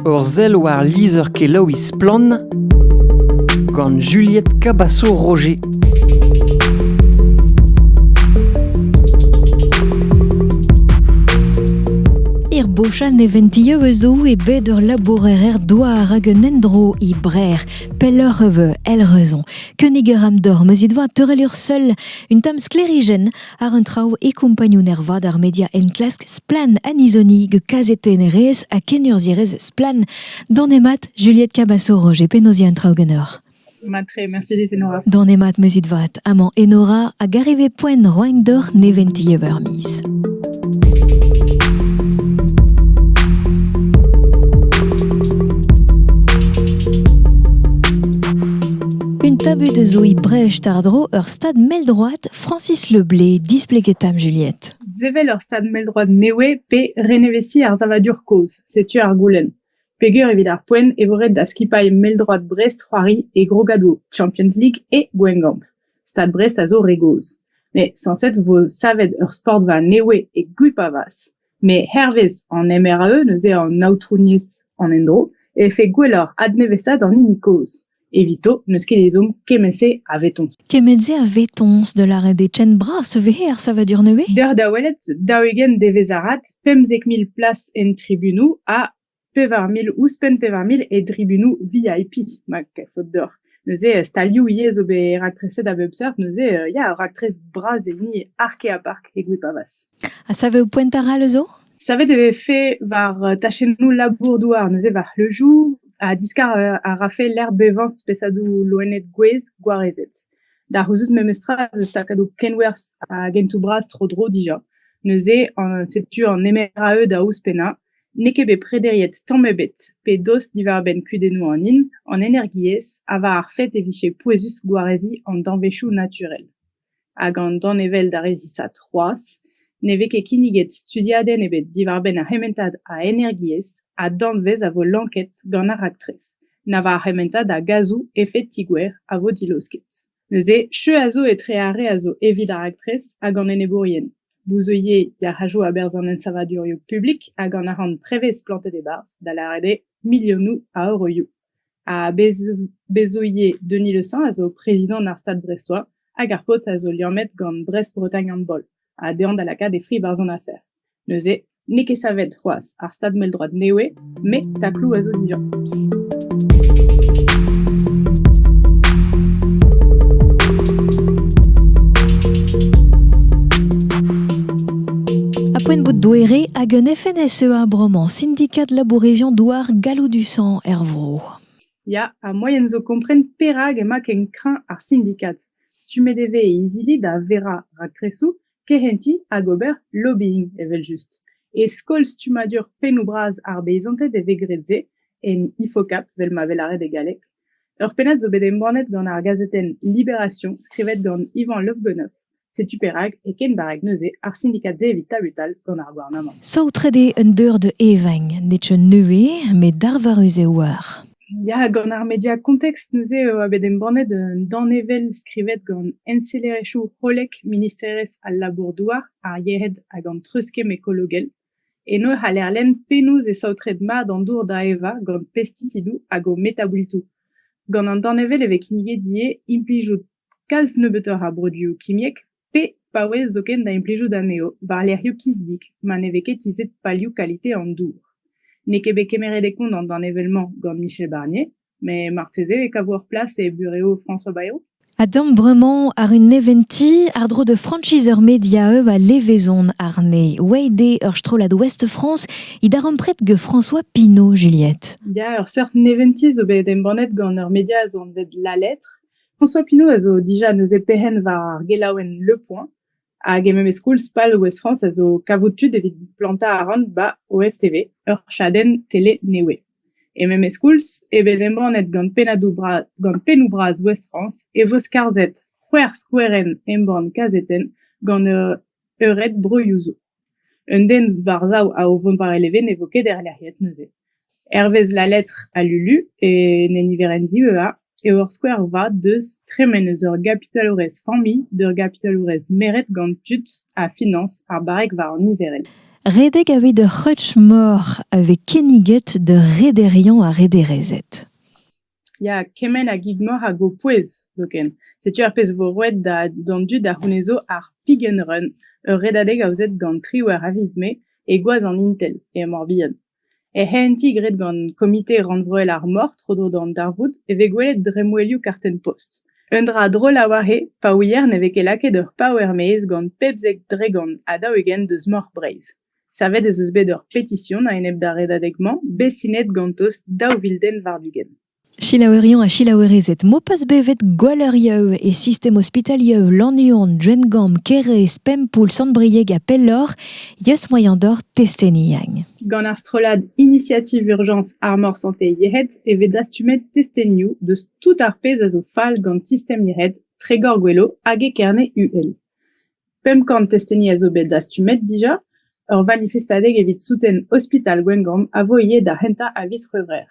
Ur sell war lizher-kelaouiñ Splann! gant Juliette Cabasso-Roger. Er bochal neventioù eus zo e bet ur labourer douar hag un endro e Brer, pelloc'h eus el reuzon. Kenig a ram d'or meus it doa teurel ur seul, un tamm sklerijenn Ar un traoù e kompagnun ervat ar media enklask Splann Anizonigue kazetennerez ha kenurzhierez Splann Donemat Juliette Cabassoro, penaos un traoù ganeoc'h Matre, Mercedes Enora. Donemat meuzit vat, amañ Enora a gareve poent roain d'or neventi evermiz. Un tabu de zoï brèche tardro ur stad mell droite Francis Le Blay displeget 'ta 'm Juliette. Sevel ur stad mell-droad nevez pe renevesiñ ar savadur kozh, setu ar goulenn. Peger evit ar poent e vo ret da skipailh mell-droad Brest c'hoari e grogadoù Champions League et Gwengamp. Stad Brest a zo re gozh. Met sañset 'vo savet ur sportva nevez e Gwipavaz. Met hervez an MRE neuze an aotrouniezh an endro e vefe gwelloc'h adnevesaat an hini kozh. Evito n'eus ket ezhomm kement-se a vetoñs. Kement-se a vetoñs da lâret eo ken bras vez ar savadur nevez? Deoc'h da welet, daou-ugent devezh arat, pemzek mil plas en tribunoù ha pevar mil ouzhpenn pevar mil e tribunoù VIP ma faot deoc'h. Neuze stalioù ivez zo bet raktres a bep seurt, neuze ya, raktres bras hini ark-ha-park e Gwipavaz. Ha saveoù poent arall zo? Savet e vefe war tachennoù labour-douar, neuze war c'hleujoù, ha diskar a rafe lec'h bevañ spesadoù loened gwez gwarezet. Da c'houzout memestra eus takadoù kenwerzh hag hentoù bras tro-dro dija. Neuze setu an MRAE da ouzhpennañ. N'eo ket bet prederiet tamm ebet pe dost diwar-benn kudennoù an hin, an energiezh ha war ar fet e vije pouezus gwareziñ an danvezioù naturel. Hag an danevell d'ar re zisav c'hoazh ne vez ket kinniget studiadenn ebet diwar-benn ar c'hementad a energiezh ha danvez a vo lanket gant ar raktres, na war ar c'hementad a gazoù efed-tigouer a vo dilaosket. Neuze, cheu a zo etre ar re a zo evit ar raktres hag an enebourien, bouzeuilhez yac'hajoù a-berzh an ensavadurioù publik hag an arc'hant prevez plantet e-barzh, da lâret eo milionoù a euroioù. Ha Bezoye Denis Le Saint a zo prezidant ar Stad brestois hag ar paotr a zo liammet gant Brest-Bretagne Handball ha dezhañ da lakaat e fri barzh an afer. Neuze, n'eo ket savet c'hoazh ar stad mell-droad nevez, met takloù a zo dija. poent bout douere hag un FNSEA bremañ, syndicat labourésion douar galloud du sang er vro. Ya, ha moaien zo kompren perak emañ ken kreñv ar syndicat. Stummet e vez e izili da verañ raktresoù kehentiñ hag ober lobbying evel-just. E skol stummadur pennoù-bras ar beizanted e vez graet se en IFOCAP, vel ma vez lâret e galleg. Ur pennad zo bet embannet gant ar gazetenn Libération, skrivet gant Ivan Lofbenoff. Setu perak, e ken barrek neuze, ar sindikad-se evit tabutal gant ar gouarnamant. Saotret eo un deur da evañ, nemet neuze, met darvarus eo war. Ya, gant ar media context neuze e oa bet embannet un danevell skrivet gant ensellerezhioù hollek Ministerezh al Labour-douar, ar Yehed hag an Treuzkemm Ekologel. Eno e c'haller lenn penaos e saotret mat an dour da evañ gant pestisidoù hag o metaboultoù. Gant an danevell e vez kinniget ivez implijout kalz nebeutoc'h a broduoù kimiek, pe paouez zoken da implijout anezho war-lerc'hioù kizdik ma ne vez ket tizhet palioù kalite an dour. N'eo ket bet kemeret e kont an danevell-mañ gant Michel Barnier, met marteze e kavo ur plas e burev François Bayrou. Adamp bremañ àr un neventiñ àr-dro de franchise ur media hub a levezon àrne. Oeit eo ur strollad Ouest-France he darempred get François Pinault, Juliette. Ya, ur seurt neventiñ zo bet embannet gant ur media anvet La Lettre. François Pinault a zo dija neuze perc'henn war ar gelaouenn Le Point hag e memes koulz pal Ouest-France a zo kavout tud evit plantañ arc'hant 'ba OFTV, ur chadenn tele nevez. E memes koulz eo bet embannet gant pennadoù bras gant pennoù bras Ouest-France e vo skarzhet c'hwec'h skouerenn embann kazetenn gant ur Eured broioù zo. Un den war-sav a o vont war e leven ne vo ket erlec'hiet neuze. Hervez La Lettre à Lulu, e ne niverenn diveuhañ, eo ur skouer vat deus tremen eus ur gapitalourez familh d'ur gapitalourez meret gant tud ha finañs ar barrek war an niverenn. Redek aveit ur c'hreutch moc'h a vez kinniget d'ur rederiañ ha rederezed. Ya, kement a gig-mor hag ho pouez zoken. Setu ar pezh vo roet da d'an dud a c'hounezo ar Pick and Run, ur redadeg aozet gant triwec'h a viz Mae e gwaz an Intel e Mor-Bihan. Er c'hehentiñ graet gant Komite Rannvroel ar Mor tro-dro d'an darvoud e vez gwelet dremmwelioù kartenn-post. Un dra drol a oa he pa ouier ne vez ket lakaet ur paouer-maez gant pep zek dregont ha daou-ugent deus Mor Breizh. Savet ez eus bet ur petision a-enep d'ar redadeg-mañ, bet sinet ganto daou vil den war-ugent. Selaouerion ha selaouerezed m'ho peus bevet Gwalleurieu e sistem ospitalieu Lannuon, Drengamp, Kérés, Pempoull, Sant-Brieg ha pelloc'h, yeus moaien d'hor testeni. Gant ar strollad Initiative Urgence Armor Santé Yec'hed e vez dastumet testenioù deus tout ar pezh a zo fall gant sistem yec'hed Tregor Gwelo hag e Kerne-UL. Pemp kant testeni a zo bet dastumet dija. Ur vanifestadeg evit souten ospital Gwengamp a vo ivez da c'hentañ a viz C'hwevrer.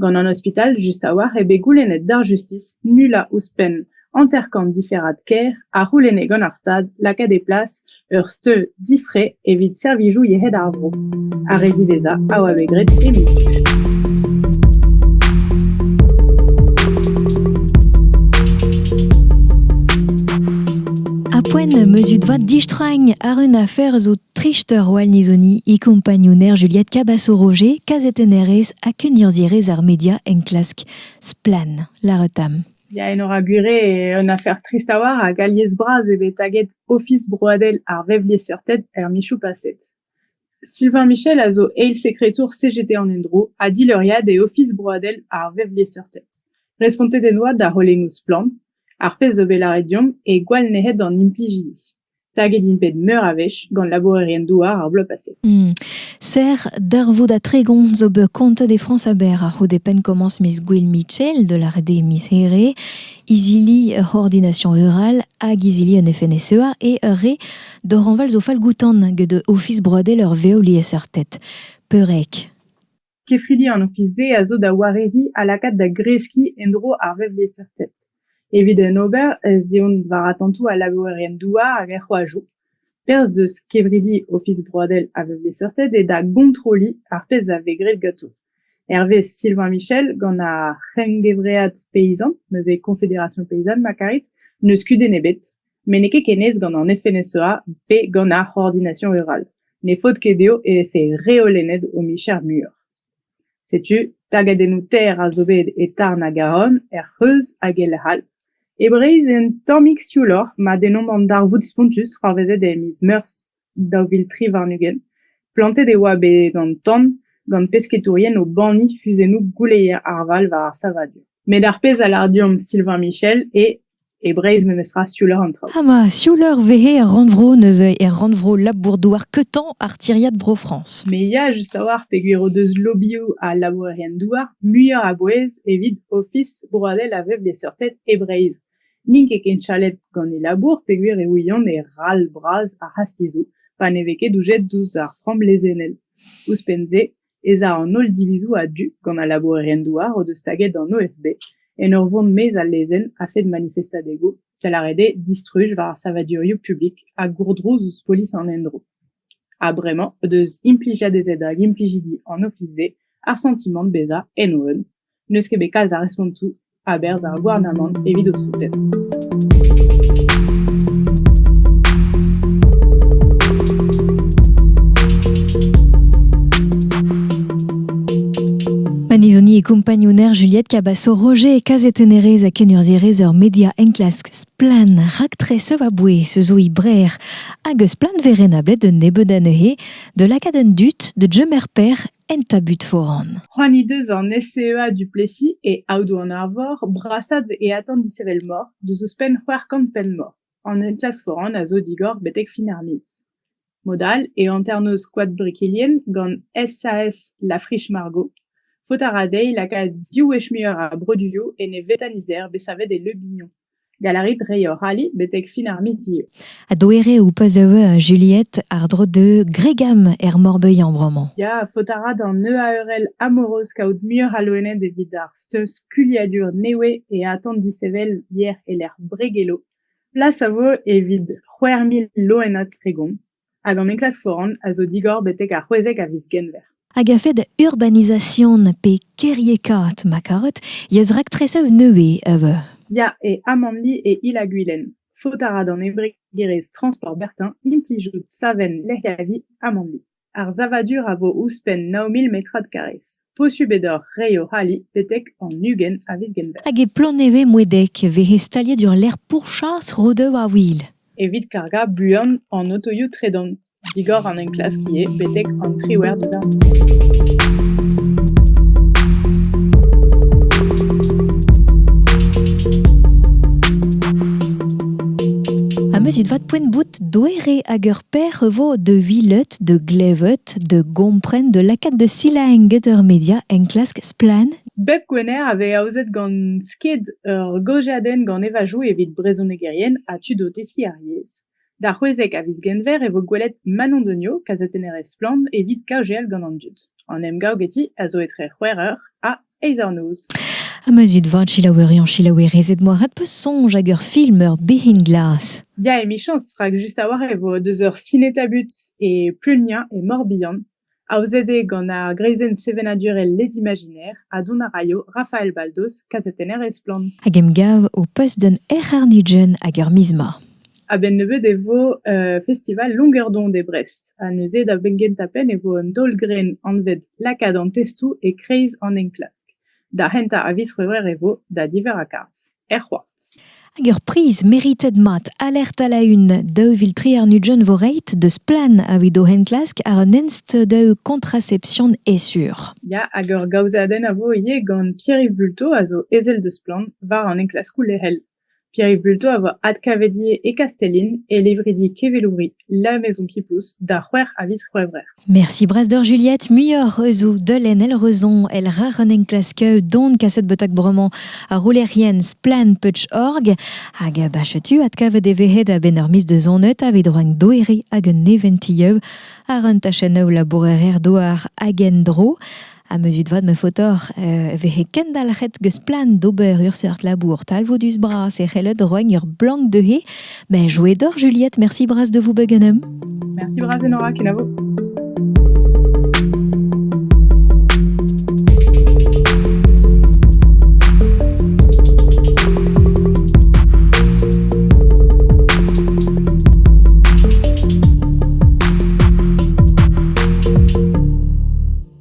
Gant an ospital just a-walc'h eo bet goulennet d'ar justis nullañ ouzhpenn hanter-kant diferad kêr a c'houlenne gant ar Stad lakaat e plas ur steud difre evit servijoù yec'hed ar vro. Ar re ziwezhañ a oa bet graet e miz du. Apoen meuzut vat distragn ar un afer zo trist Roal Nizoni e compagnouner Juliette Cabasso-Roger, kazetennerez ha kenurzierez ar media enklask Splan, la retam. Ya, en aura gure un afer trist a war hag alies bras eo bet taget Ofis broadel ar vevliesseurted er michoù paset. Sylvain Michel a zo eil sekretour CGT an endro ha dileuriad e Ofis broadel ar vevliesseurted. Respontet en doa da c'holennoù Splann, ar pezh zo bet lâret deomp e gwall nec'het d'an implijidi. Taget int bet meur a wech gant labourerien-douar ar bloaz paset. Hmm. Serr darvoud ha tregont zo bet kontet e Frañs aber a-c'houde penn-komañs miz Gwill Mitchell de la rede miz Here izili ur c'hoordination rural hag izili un FNSEA e ur re doranval zo falgoutan get Ofis broadel ur vev liesseurted. Peurrec. Kefridi an ofis-se a zo da wareziñ ha lakaat da greskiñ en-dro ar vevliesseurted. Evit en ober ez eont war atantoù al labourerien douar hag er c'hoajoù. Perzh deus kevridi Ofis Broadel a vez bet seurtet eo da gontroliñ ar pezh a vez graet ganto. Hervez Sylvain Michel, gant ar c'hengevread peyzant, neuze Confédération paysanne ma karit, n'eus kudenn ebet, met n'eo ket ken aes gant an FNSEA pe gant ar Coordination rurale. Ne faot ket dezho e vefe reolennet o micher muioc'h. Setu tagadennoù-ter all zo bet e Tarn ha Garonne, er C'hreuz hag e lec'h all. E Breizh eo un tammig siouloc'h ma dennomp an darvoud spontus c'hoarvezet e miz Meurzh daou vil tri warn-ugent. Plantet e oa bet an tan gant pesketourien o banniñ fuzennoù gouleier ar Val war ar savadur. Met ar pezh a lâr deomp Sylvain Michel eo e Breizh memestra siouloc'h an traoù. Ha ma siouleur vehe er rannvro neuze er rannvro labour-douar Quetant ar tiriad Bro-France. Me ya just a-walc'h peogwir o deus lobioù ha labourerien-douar muioc'h a bouez evit Ofis broadel a vev liesseurted e Breizh. N'int ket ken chalet gant e labour peogwir e ouiont e ral bras ar c'hastizoù pa ne vez ket doujet ouzh ar framm lezennel. Ouzhpenn-se ez a an holl divizoù a-du gant al labourerien-douar o deus staget an OFB en ur vont maez al lezenn a-fet manifestadegoù, da lâret eo distruj war ar savadurioù publik ha gourdrouz ouzh polis an endro. Ha bremañ o deus implijet ez eo da implijidi an ofis-se ar santimant bezañ en o un. n'eus ket bet kalz a respontoù a-berzh ar gouarnamant evit o souten. Panizoni e kompagnouner Juliette Cabasso, Roger e kazetennerez a kenurzhierez ur media enklask splann raktres a bouez se zo brer hag eus splann verrenablet d'un nebeud anezhe de lakaat un dut de Jemer Père En tabut foran. C'hoant he deus an SCEA Duplessis e aodoù an Arvor brasaat e atant dishevelmor deus ouzhpenn c'hwec'h kant penn-mor. An enklask foran a zo digor betek fin ar miz. Mod all e hanternoz Koad Brikilien gant SAS La Friche-Margot. Faot a ra dezhi lakaat div wech muioc'h a broduioù en e vetanizer bet savet e Le Bignon. Gallarit reiñ hoc'h ali betek fin ar miz zieu. Ha doereoù pa zeu Juliette àr-dro de Gregam er Morbeuillan bremañ. Ya, faot a ra d'an EARL amoureus kaout muioc'h a loened evit ar steuz skuliadur newe e atant dishevel yer e-lec'h Bregelo. Plas a vo evit c'hwec'h mil loened tregont. hag an enklask foran a zo digor betek ar c'hwezek a viz Genver. Hag a-fed urbanizasion pe kêriekaat ma karot, yeus raktresev nevez eus. Ya, e Amanli e Il-ha-Gwilen. Faot a ra d'an embregerezh Transport Bertin implijout savenn lec'hiavi Amanli. Ar savadur a vo ouzhpenn 9000 metrad karrez. Posubl eo d'hor reiñ o c'hali betek an ugent a viz Genver. Hag e Ploneve-Moedek e vehe staliet ur lec'h pourchas Rodeu-ar-Wil. Evit kargañ buan an otoioù tredan digor an enklask ivez betek an triwec'h deus ar miz. Ameuzet vat poent bout doere hag ur perr e vo de vilet, de glevet, de gompren, de lakaat de silaenn get ur media enklask splann Bep Gwener a vez aozet gant sked ur gaozeadenn gant evajoù evit brezhonegerien ha tud o teskiñ ar yezh. D'ar c'hwezek a viz Genver e vo gwelet Manon Degnaud, kazetennerez Splann evit kaozeal gant an dud. An emgav geti a zo etre c'hwec'h eur ha eizh eur noz. Ha ma zud vat selaouerion selaouerezed moarvat 'peus soñj hag ur film ur behin glas. Ya emichañs rak just a-walc'h e vo deus ur sineta-but e Pleunia e Mor-Bihan. Aozet eo gant ar greizenn sevenadurel Les Imaginaires ha dont a raio Rafael Baldos, kazetenner e Splann! Hag emgav ho post gant RR Nugent hag ur miz 'ma. A-benn nebeut e vo festival Longuerdon e Brest ha neuze da benn-gentañ penn e vo un daol-grenn anvet Lakaat an testoù e-kreiz an enklask. Da c'hentañ a viz C'hwevrer e vo da diverr a garzh, er c'hoartz. Hag ur priz meritet mat alert a-la-un daou vil tri warn-ugent vo reiet deus Plan evit o enklask àr un ensteudaou kontracepsion esur. Ya, hag ur gaozeadenn a vo ivez gant Pierre-Yves Bulto a zo ezel deus Plan war an enklaskoù lec'hel. Pierre Bulto a voa adkavedi e Kastellin e levridi kevelouri La Maison qui pousse da c'hwec'h a viz C'hwevrer. Merci brasdor Juliette, muioc'h eus o deulenn El Reuzon el ra un enklask don kaset betak bremañ ar roulerien Splan.org hag bachetu adkavet e vehe da benn ur miz de zonet evit rank doere hag un neventilleu àr un tachenn labourer douar hag en-dro. Ha meuzut vat ma faotoc'h e vehe kendalc'het geus plan d'ober ur seurt labour talvoudus-bras e c'hellot roiñ ur blank dezhe. Mais joie d'or, Juliette, merci bras de vous beganem. Merci bras Enora, kenavo.